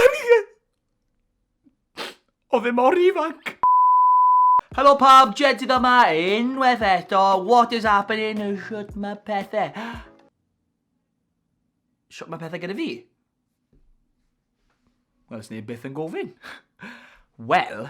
O'n i yn... Oedd e mor ifanc! Helo pawb, Jedydd yma unwaith eto, what is happening, shwt mae pethau? Shwt mae pethau gyda fi? Wel, os neb byth yn gofyn. Wel,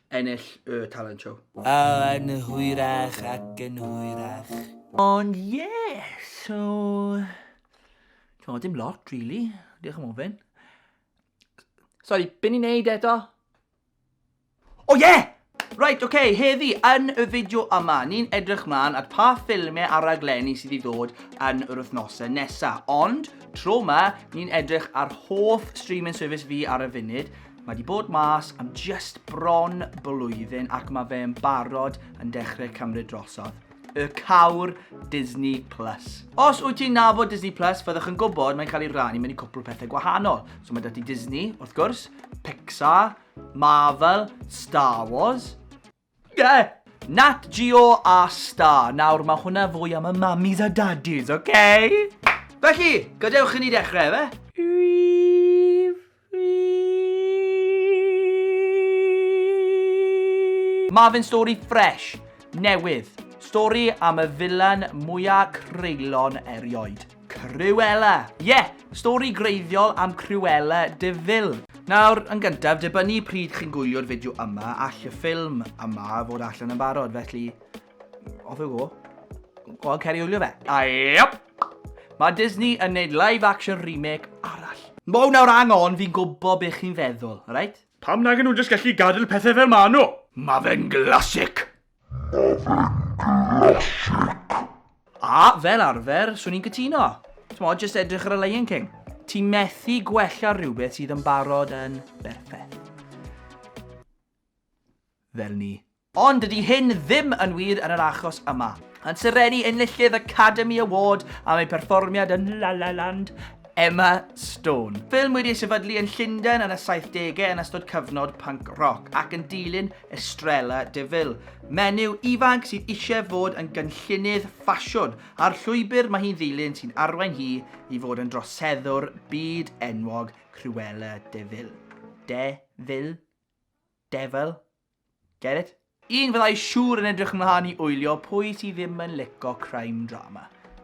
ennill y talent show. O yn hwyrach ac yn hwyrach. Ond ie, yeah, so... T'mo, dim lot, really. Diolch am ofyn. Sori, byn i'n neud eto? O oh, ie! Yeah! Right, oce, okay, heddi yn y fideo yma, ni'n edrych mlaen at pa ffilmiau a raglenni sydd i ddod yn yr wythnosau nesaf. Ond, tro yma, ni'n edrych ar hoff streaming service fi ar y funud, Mae di bod mas am just bron blwyddyn ac mae fe yn barod yn dechrau cymryd drosodd. Y cawr Disney Plus. Os wyt ti'n nabod Disney Plus, fyddwch yn gwybod mae'n cael ei rannu mewn i cwpl pethau gwahanol. So mae dati Disney, wrth gwrs, Pixar, Marvel, Star Wars, Ie! Nat Geo a Star. Nawr, mae hwnna fwy am y mamis a dadis, oce? Felly, gadewch i ni dechrau, efe? Mae fe'n stori ffresh, newydd. Stori am y filan mwyaf creulon erioed. Cruella! Ie! Stori greiddiol am Cruella de Vil. Nawr, yn gyntaf, dibynnu pryd chi'n gwylio'r fideo yma, all y ffilm yma fod allan yn barod, felly... Off you go. Go on, cer i wylio fe. A iep! Mae Disney yn neud live action remake arall. Wow, nawr hang on, fi'n gwybod beth chi'n feddwl, alright? Pam nagen nhw jyst gallu gadel pethau fel ma' nhw? Mae fe'n glasic! Ma fe'n glasig! A, fel arfer, swn i'n cytuno. T'mod, jyst edrych ar y Lion King. Ti methu gwella rhywbeth sydd yn barod yn berffeth. Fel ni. Ond dydy hyn ddim yn wir yn yr achos yma. Yn serennu enillydd Academy Award am ei pherfformiad yn La La Land, Emma Stone. Ffilm wedi ei sefydlu yn Llundain yn y saithdegau yn ystod cyfnod punk roc, ac yn dilyn Estrella de Vil, menyw ifanc sydd eisiau fod yn gynllunydd ffasiwn, a'r llwybr mae hi'n ddilyn sy'n arwain hi i fod yn droseddwr byd enwog Cruella de Vil. De Vil? Devil? Get it? Un fyddai siŵr yn edrych ymlaen i wylio pwy sydd ddim yn lico crime drama.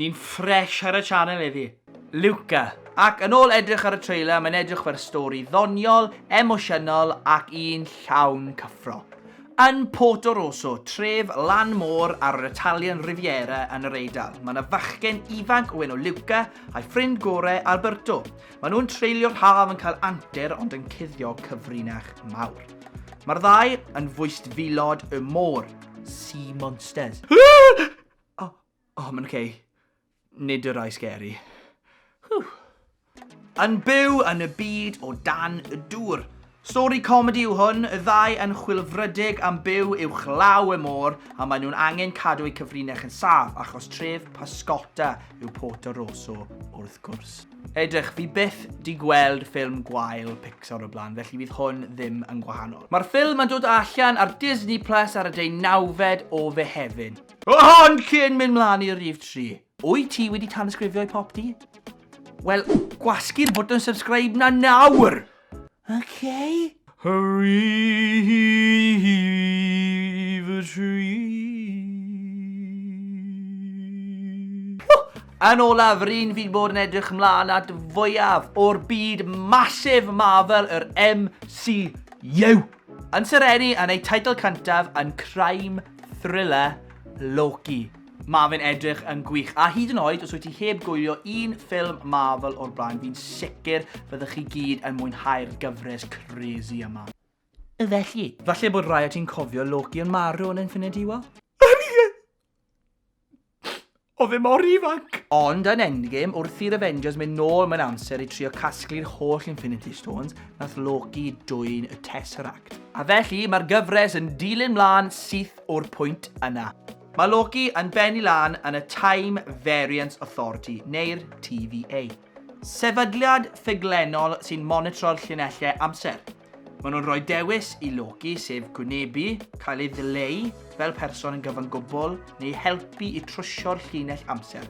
Ni'n ffresh ar y channel heddi. Luca. Ac yn ôl edrych ar y trailer, mae'n edrych fer stori ddoniol, emosiynol ac un llawn cyffro. Yn Porto Rosso, tref lan môr ar yr Italian Riviera yn yr Eidal, mae yna fachgen ifanc o enw Luca a'i ffrind gore Alberto. Mae nhw'n treulio'r haf yn cael antur ond yn cuddio cyfrinach mawr. Mae'r ddau yn fwystfilod y môr, sea monsters. O, o, mae'n oce. Nid y rai scary. Whew. Yn byw yn y byd o dan y dŵr. Stori comedi yw hwn, y ddau yn chwilfrydig am byw uwch law y môr a maen nhw'n angen cadw eu cyfrinach yn saf achos tref Pascota yw Porto Rosso wrth gwrs. Edrych, fi byth di gweld ffilm gwael Pixar o blaen, felly fydd hwn ddim yn gwahanol. Mae'r ffilm yn dod allan ar Disney Plus ar y deu nawfed o Fehefin. Ond cyn mynd mlaen i rif tri, wyt ti wedi tanysgrifio i Popty? Wel, gwasgu'r bwtwn subscribe na nawr! Okay? Rhif tri. Yn olaf, ryn fi'n bod yn edrych mlaen at fwyaf o'r byd masif Marvel yr MCU. Yn serennu yn eu teitl cyntaf yn crime thriller Loki. Mae fe'n edrych yn gwych, a hyd yn oed os wyt ti heb gwylio un ffilm Marvel o'r blaen, fi'n sicr fyddwch chi gyd yn mwynhau'r gyfres crazy yma. Felly, falle bod rhai o ti'n cofio Loki yn marw yn Infinity War? Oedd e mor ifanc! Ond yn Endgame, wrth i'r Avengers mynd nôl mewn amser i trio casglu'r holl Infinity Stones, nath Loki dwyn y Tesseract. A felly, mae'r gyfres yn dilyn mlaen syth o'r pwynt yna. Mae Loki yn bennu lan yn y Time Variance Authority, neu'r TVA. Sefydliad ffuglenol sy'n monitro'r llinellau amser. Maen nhw'n rhoi dewis i Loki, sef gwynebu, cael ei ddileu fel person yn gyfan gwbl, neu helpu i trwsio'r llinell amser.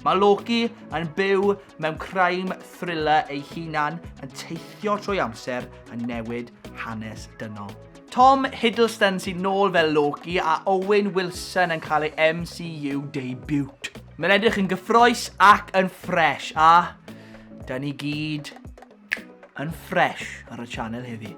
Mae Loki yn byw mewn crime thriller ei hunan yn teithio trwy amser yn newid hanes dynol. Tom Hiddleston sy'n nôl fel Loki a Owen Wilson yn cael ei MCU debut. Mae'n edrych yn gyffroes ac yn ffres a da ni gyd yn ffresh ar y channel heddi.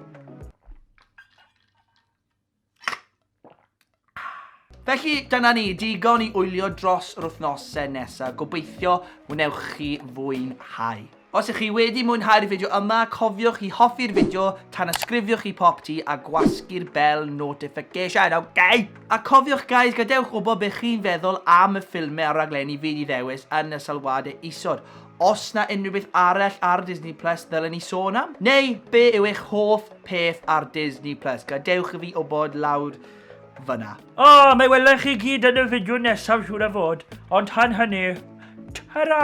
Felly, dyna ni, digon i wylio dros yr wythnosau nesaf. Gobeithio wnewch chi fwynhau. Os ych chi wedi mwynhau'r fideo yma, cofiwch i hoffi'r fideo, tan ysgrifiwch i pop ti a gwasgu'r bell notification, ok? A cofiwch guys, gadewch wybod beth chi'n feddwl am y ffilmau a'r raglenni fi wedi ddewis yn y sylwadau isod. Os na unrhyw beth arall ar Disney Plus ddylen ni sôn am? Neu, be yw eich hoff peth ar Disney Plus? Gadewch i fi wybod lawr fyna. O, oh, mae welen chi gyd yn y fideo nesaf siŵr a fod. Ond tan hynny, ta-ra!